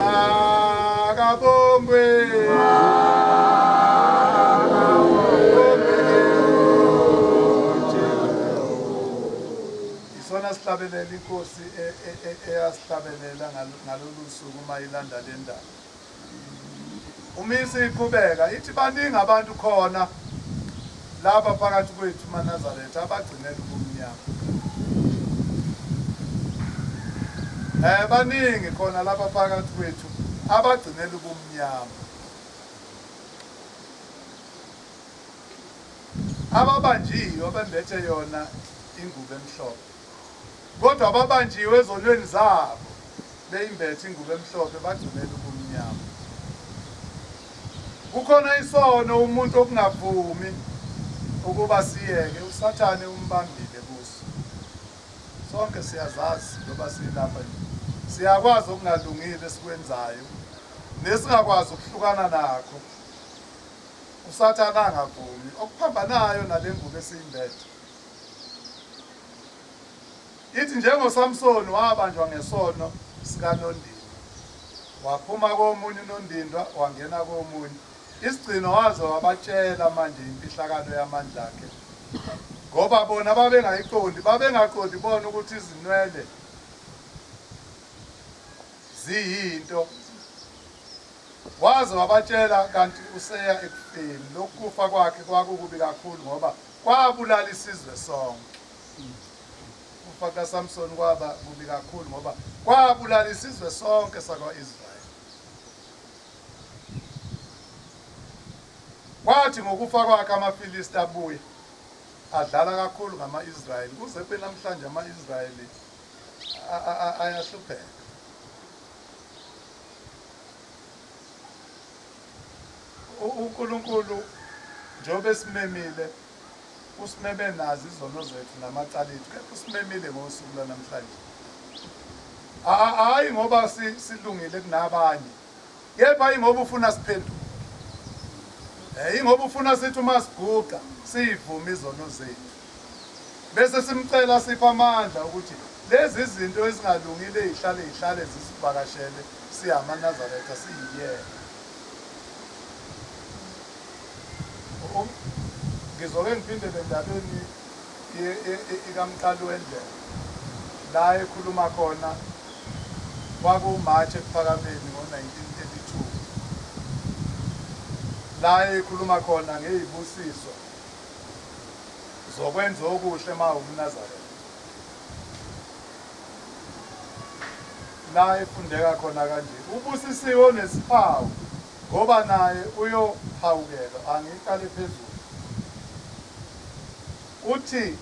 Akabongwe. Isona sihlabelela inkosi e- e- e- eyasihlabelela ngal- ngalolu suku uma ilanda le ndaba. UMISA iqhubeka ithi baningi abantu khona lapha phakathi kwethu maNazaretha abagcinela ubumnyama. Eh baningi khona lapha phakathi kwethu abagcinela ubumnyama. Ababanjiwe bembethe yona ingubo emhlophe. Kodwa babanjiwe ezonweni zabo, beyimbethe ingubo emhlophe, bagcinela ubumnyama. Kukhona isono umuntu okungavumi ukuba siyeke, uSathane umbambile kuso. Sonke siyazazi njengoba silapha nje. Siyakwazi okungalungile esikwenzayo nesingakwazi ukuhlukana nakho. USathane angavumi. Okuphambanayo nale ngubo esiyimbethe Ithi njengoSamsoni wabanjwa ngesono sikanondindwa, waphuma komunye unondindwa wangena komunye, isigcino waze wabatshela manje imfihlakalo yamandla akhe, ngoba bona babengayiqondi, babengaqondi bona ukuthi izinwele ziyinto, waze wabatshela kanti useya ekufeni, lokhu kufa kwakhe kwakukubi kakhulu ngoba Kwabulala isizwe sonke. Ukufa kukaSamsoni kwaba kubi kakhulu ngoba kwabulala isizwe sonke sakwa-Israyeli. Kwathi ngokufa kwakhe amaFilisti abuya adlala kakhulu ngama-Israyeli kuze kube namhlanje ama-Israyeli ayahlupheka. UNkulunkulu njengoba esimemile usimeme nazo izono zethu namacala ethu kepha usimemile ngosuku lwanamhlanje hhayi ngoba silungile kunabanye kepha ingoba ufuna siphenduke um ingoba ufuna sithi uma siguqa siyivume izono zethu bese simcela asiphe amandla ukuthi lezi zinto ezingalungile ezihlale zihlale zisivakashele siyamanazaretha siyiyena ngizoke ngiphindele endabeni ikamqali wendlela la ekhuluma khona kwakuwumarch ekuphakameni ngo-1932 la ekhuluma khona ngeyibusiso zokwenza okuhle ma umnazaretha la efundeka khona kanje ubusisiwe onesihawu ngoba naye uyohawukelwa angiqale phezulu uthi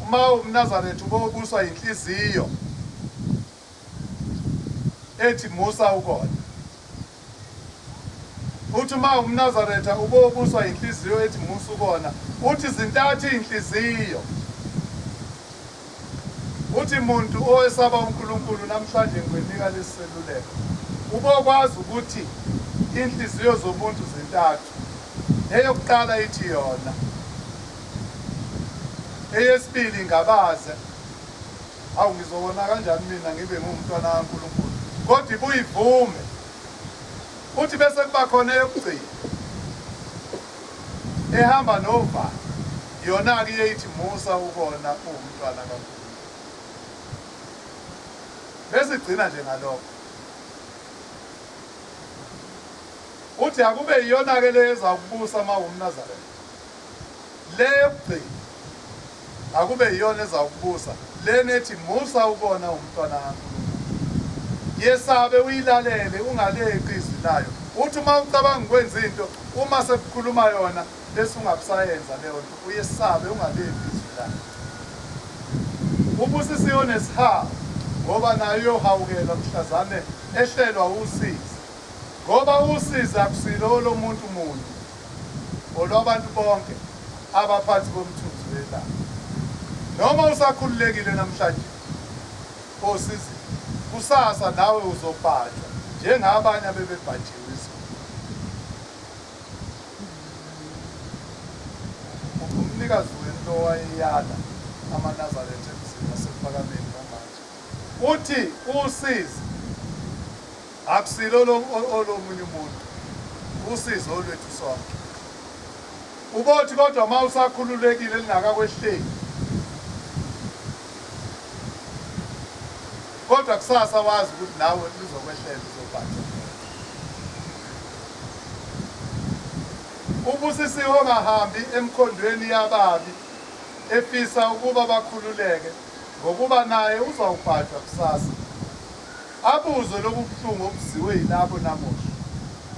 uma umnazaretha ubobuswa yinhliziyo ethi musa ukona uthi uma umnazaretha ubobuswa yinhliziyo ethi musa ukona uthi zintathu iy'nhliziyo uthi muntu owesaba unkulunkulu namhlanje ngikwenika lesi seluleko ubokwazi ukuthi inhliziyo zomuntu zintathu eyokuqala ithi yona eyesibili ngabaze Awu, ngizowona kanjani mina ngibe ngiwumntwana kaNkulunkulu? Kodwa ibuye ivume. Futhi bese kuba khona eyokugcina ehamba novalo, yona-ke iye ithi musa ukona uwumntwana kaNkulunkulu. Bese igcina nje ngalokho. Uthi akube iyona-ke le ezawukubusa uma uwumNazaretha. Le yokugcina akube yiyona ezawukubusa lena ethi musa ukona umntwana kaNkulunkulu. Yesabe uyilalele ungaleqi izwi layo. Uthi uma ucabanga ukwenza into uma sekukhuluma yona bese ungabisayenza leyo nto uyesabe ungaleqi izwi layo. Ubusisiwe onesihawu ngoba nayo uyohawukela mhlazane ehlelwa usizi ngoba usizi akusilo olomuntu muntu. olwabantu bonke abaphansi komthunzi welanga. Noma usakhululekile namhlanje osizini, kusasa nawe uzobhajwa njengabanye abebebhajiwe izulu. Umnikazi wento owayeyala amaNazaretha emzini wasekuPhakameni kwamanje uthi usizi Akusilo olomunye umuntu, usizi olwethu sonke. Ubothi kodwa uma usakhululekile lingakakwehleki kodwa kusasa wazi ukuthi nawe lizokwehlela uzobhatha ubusisiwe ongahambi emkhondweni yababi efisa ukuba bakhululeke ngokuba naye uzawubhajwa kusasa Abuzwe lobu buhlungu obuziwe yilabo namuhla.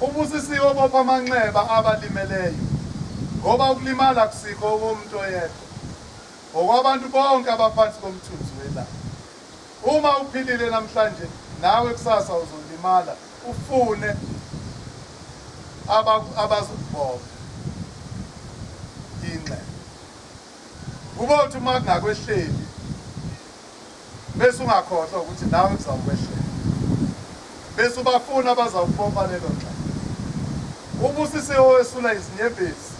Ubusisiwe obopha amanxeba abalimeleyo ngoba ukulimala akusikho okomuntu oyedwa, ngokwabantu bonke abaphansi komthunzi welanga. Uma uphilile namhlanje nawe kusasa uzolimala ufune abazokubopha inxeba. Kubothi uma kungakwehleli. Bese ungakhohlwa ukuthi nawe kuzawukwehlela. Bese ubafuna abazawukubopha lelo nxeba. Ubusisiwe owesula izinyembezi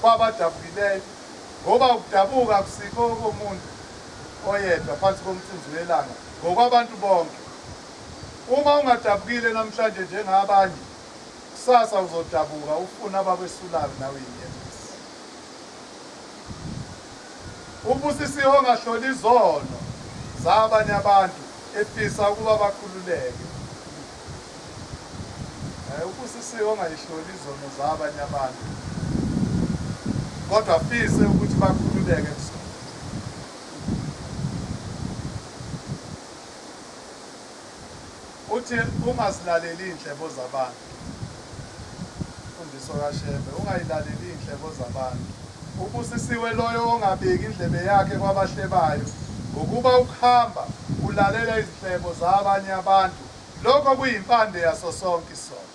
kwabadabukileyo, ngoba ukudabuka akusikho okomuntu oyedwa phansi komthunzi welanga, ngokwabantu bonke. Uma ungadabukile namhlanje njengabanye, kusasa uzodabuka ufune abakwesulayo nawe inyembezi. Ubusisiwe ongahloli izono zabanye abantu efisa ukuba bakhululeke. Eh, ubusisiwe ongayihloli izono zabanye abantu kodwa afise ukuthi bakhululeke kuzona. Uthi ungazilaleli iy'nhlebo zabantu. Imfundiso kaShembe, ungayilaleli iy'nhlebo zabantu. Ubusisiwe loyo ongabeki indlebe yakhe kwabahlebayo, ngokuba ukuhamba ulalela izinhlebo zabanye abantu, lokho kuyimpande yaso sonke isono.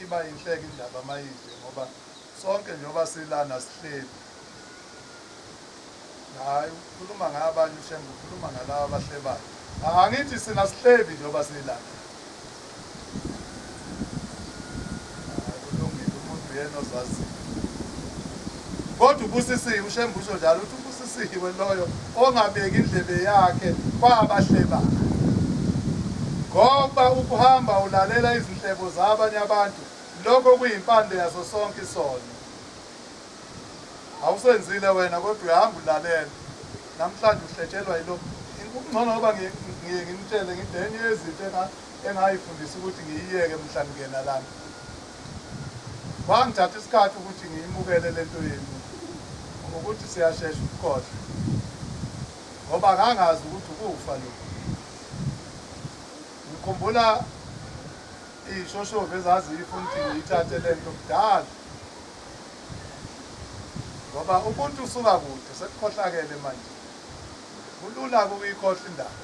iba yinhleke indaba mayide ngoba sonke njengoba silana sihleli hayi ukhuluma ngabanye ushembe ukhuluma ngalaba abahlebayo angithi sina sihleli njengoba silana kulungile umuntu yena ozaziyo Kodwa ubusisiwe uShembe usho njalo ukuthi ubusisiwe loyo ongabeki indlebe yakhe kwabahlebayo ngoba ukuhamba ulalela izinhlebo zabanye abantu lokho kuyimpande yaso sonke isono awusenzile wena kodwa uyahamba ulalela namhlanje uhletshelwa yilo kungcono ngoba ngiye ngimtshele ngithi enye yezinto engayifundisa ukuthi ngiyiyeke mhla ngingena lana Kwangithatha isikhathi ukuthi ngiyimukele le nto yenu ukuthi siyashesha ukukhohlwa ngoba ngangazi ukuthi ukufa lokhu. Ngikhumbula iy'shoshovu ezaziyifuna ukuthi ngiyithathe le nto kudala ngoba ubuntu usuka kude sekukhohlakele manje. Kulula-ke ukuyikhohlwa indaba.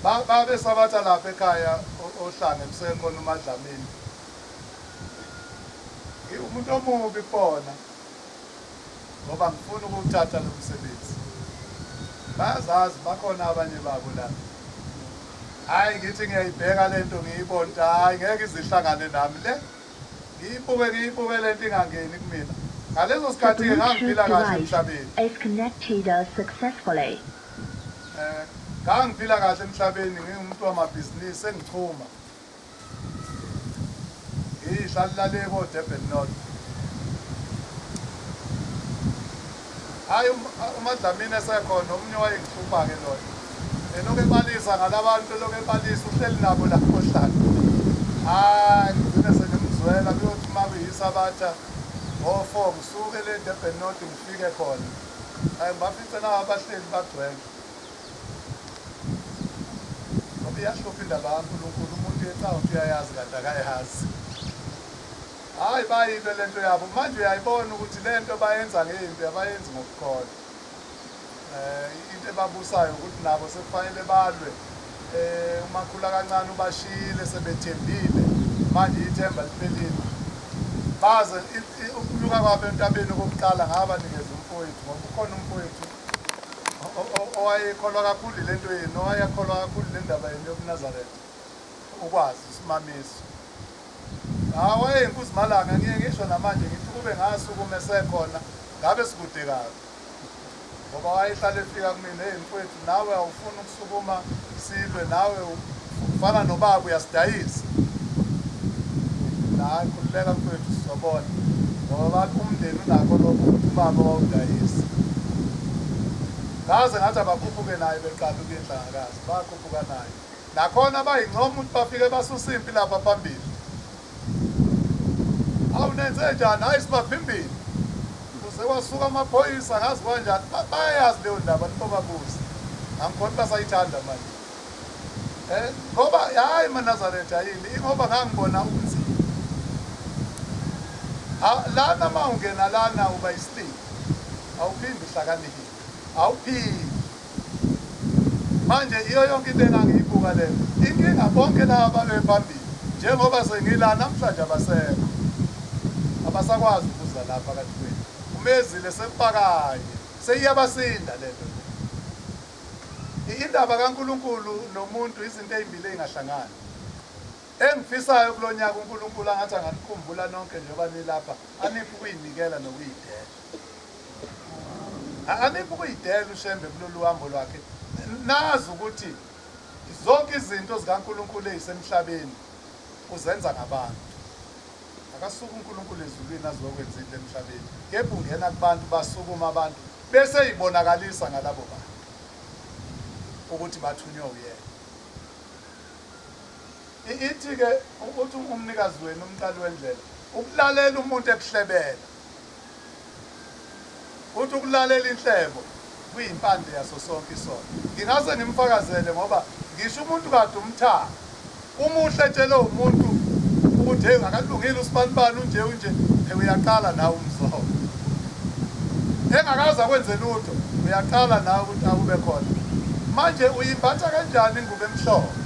Ba, babesabatha lapha ekhaya o- oHlanga emseke khona uMaDlamini. Ngi- Umuntu omubi kubona ngoba ngifuna ukuwuthatha lo msebenzi. Bayazazi bakhona abanye babo la. Hhayi ngithi ngiyayibheka le nto ngiyibone ukuthi hhayi ngeke izihlangane nami le. Ngiyibuke ngiyibuke lento ingangeni kumina. Ngaleso The sikhathi ke ngangiphila Bluetooth kahle device emhlabeni. is connected uh, successfully. Eh, ngangiphila kahle emhlabeni ngingumuntu wamabhizinisi sengichuma. Ngihlala le ko Durban North. Hhayi uMaDlamini esekhona omunye owayengihlupha-ke lona. Elokhu ebalisa ngalabantu elokhu ebalisa uhleli nabo la kohlala. Hhayi ngigcine sengimzwela kuyothi uma kuyisabatha ngo-four ngisuke le Durban North ngifike khona. Hhayi ngibafice nawo abahleli bagcwele. Ngoba iyahlupha indaba kaNkulunkulu umuntu ecawa ukuthi uyayazi kanti akayazi. Hhayi bayilwe lento yabo manje uyayibona ukuthi lento bayenza ngempi abayenzi ngokukholwa eh into ebabusayo ukuthi nabo sekufanele balwe eh umakhula kancane ubashiyile sebethembile manje ithemba liphelile baze ukunyuka kwabo entabeni okokuqala ngabanikeza umfowethu ngoba ukhona umfowethu owayekholwa kakhulu lento yenu owayekholwa kakhulu le ndaba yenu yobunazaretha ukwazi isimamiso Hawe nkuzimalanga ngiye ngisho namanje ngithi kube ngasukuma esekhona ngabe sikude kabi ngoba wayehlale efika kumina hey mfowethu nawe awufuni ukusukuma silwe nawe ufana nobaba uyasidayisa hayi khululeka mfowethu sizobona ngoba bathi umndeni unakho lokho ukuthi ubaba wawudayisa ngaze ngathi abakhuphuke naye beqala ukuyindlangakazi bakhuphuka naye Nakhona bayincoma ukuthi bafike basusa impi lapha phambili. Awu nenze njani? Hayi sibavimbile. Kuze kwasuka amaphoyisa ngazi kwanjani. Bayayazi leyo ndaba nibobabuza. Angikhona basayithanda manje. Eh ngoba hayi manazaretha yini ingoba ngangibona ubunzima. Ah, lana mawungena lana uba isitini. Awuphindi uhlakaniphe. Awuphindi. Manje iyo yonke into engangiyibuka le inkinga bonke laba babephambili njengoba sengila namhlanje abasekho abasakwazi ukuza la phakathi kwethu umezile sempakanye seyiyabasinda lento indaba kaNkulunkulu nomuntu izinto ezimbili ezingahlangani engifisayo kulonyaka uNkulunkulu angathi anganikhumbula nonke njengoba nilapha aniphi ukuyinikela nokuyidela Aniphi ukuyidela uShembe kulolu hambo lwakhe. Nazi ukuthi zonke izinto zikaNkulunkulu ezisemhlabeni uzenza ngabantu. Akasuka uNkulunkulu ezulwini azokwenza into emhlabeni. Kepha ungena kubantu basukuma abantu bese ibonakalisa ngalabo bantu ukuthi bathunywe uyena. Ithi ke ukuthi umnikazi wenu umqali wendlela ukulalela umuntu ekuhlebela Uthi ukulalela inhlebo kuyimpande yaso sonke isono. Ngingase ngimfakazele ngoba ngisho umuntu kade umthaka. Umuhle etshele umuntu ukuthi hey akalungile usibanibani unje unje hey uyaqala nawe umzoho. Engakaza kwenze lutho uyaqala nawe ukuthi akube khona. Manje uyimbatha kanjani ingubo emhlophe?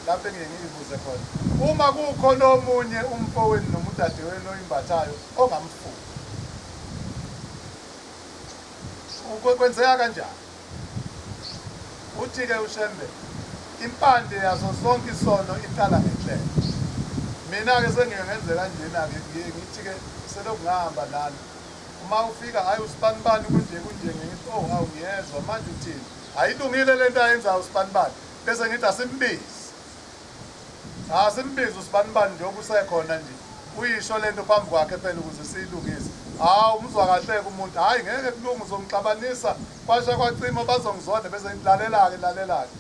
Lapho engiye ngiyibuze khona, uma kukhona omunye umfowenu noma udadewenu oyimbathayo ongamfuni. Kwenzeka kanjani? Uthi-ke uShembe, impande yaso sonke isono iqala ngenhlelo. Mina-ke sengiye ngenze kanjena-ke, ngiye ngithi-ke selokhu ngahamba nani uma ufika hhayi usibanibani kunje kunje ngithi oh hawu ngiyezwa manje uthini ayilungile le nto ayenzayo usibanibani Bese ngithi asimbizi. Cha simbizi usibanibani nje okusekhona nje. Uyisho lento phambi kwakhe phela ukuze siyilungise. Hawu umzwa kahleke umuntu. Hayi ngeke kulunga uzongixabanisa kwasha kwacima bazongizonda bese ngilalela ke lalela ke.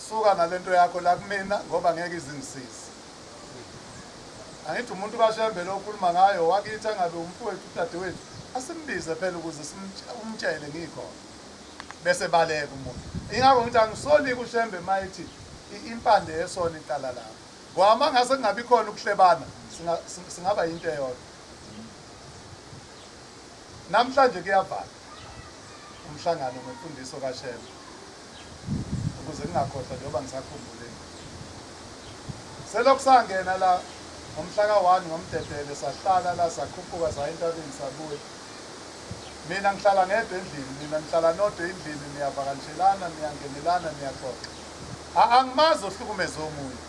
Suka nalento yakho la kumina ngoba ngeke izingisize. Angithi umuntu kaShembe lo ukhuluma ngayo wakithi angabe umfowethu udadewethu asimbize phela ukuze umtshele ngikhona. bese baleka umuntu ingakho ngithi angisoli kushembe mayithi impande yesona iqala lapho ngoba uma ngase kungabi khona ukuhlebana singaba yinto eyodwa namhlanje kuyavala umhlangano ngemfundiso kashembe ukuze kungakhohlwa njengoba ngisakhumbule selokhu sangena la ngomhla ka-one ngomdedele sahlala la sakhuphuka saya entabeni sabuya Mina ngihlala ngedwa endlini, nina nihlala nodwa endlini, niyavakanshelana, niyangenelana, niyaxoxa. A, angimazi ohlukumeze omunye.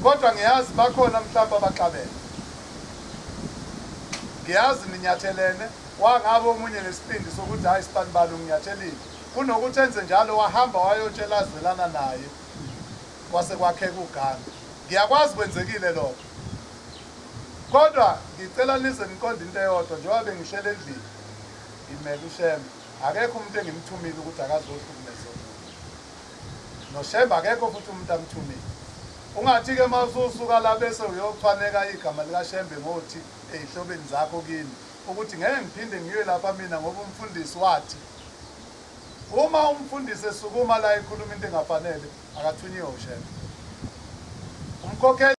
Kodwa ngiyazi bakhona mhlawumbe abaxabene. Ngiyazi ninyathelene, wangabe omunye nesibindi sokuthi hhayi sibanibani unginyathelile. Kunokuthi enze njalo wahamba wayotshela azwelana naye, kwase kwakheka ugange. Ngiyakwazi kwenzekile lokho. Kodwa ngicela nize niqonde into eyodwa njengoba bengihleli endlini ngimele uShembe. Akekho umuntu engimthumile ukuthi akazohlukumeza umuntu. NoShembe akekho futhi umuntu amthumile. Ungathi-ke uma ususuka la bese uyochwaneka igama likaShembe ngothi eyihlobeni zakho kimi ukuthi ngeke ngiphinde ngiye lapha mina ngoba umfundisi wathi uma umfundisi esukuma la ekhuluma into engafanele akathunyiwe uShembe. Umkhokheli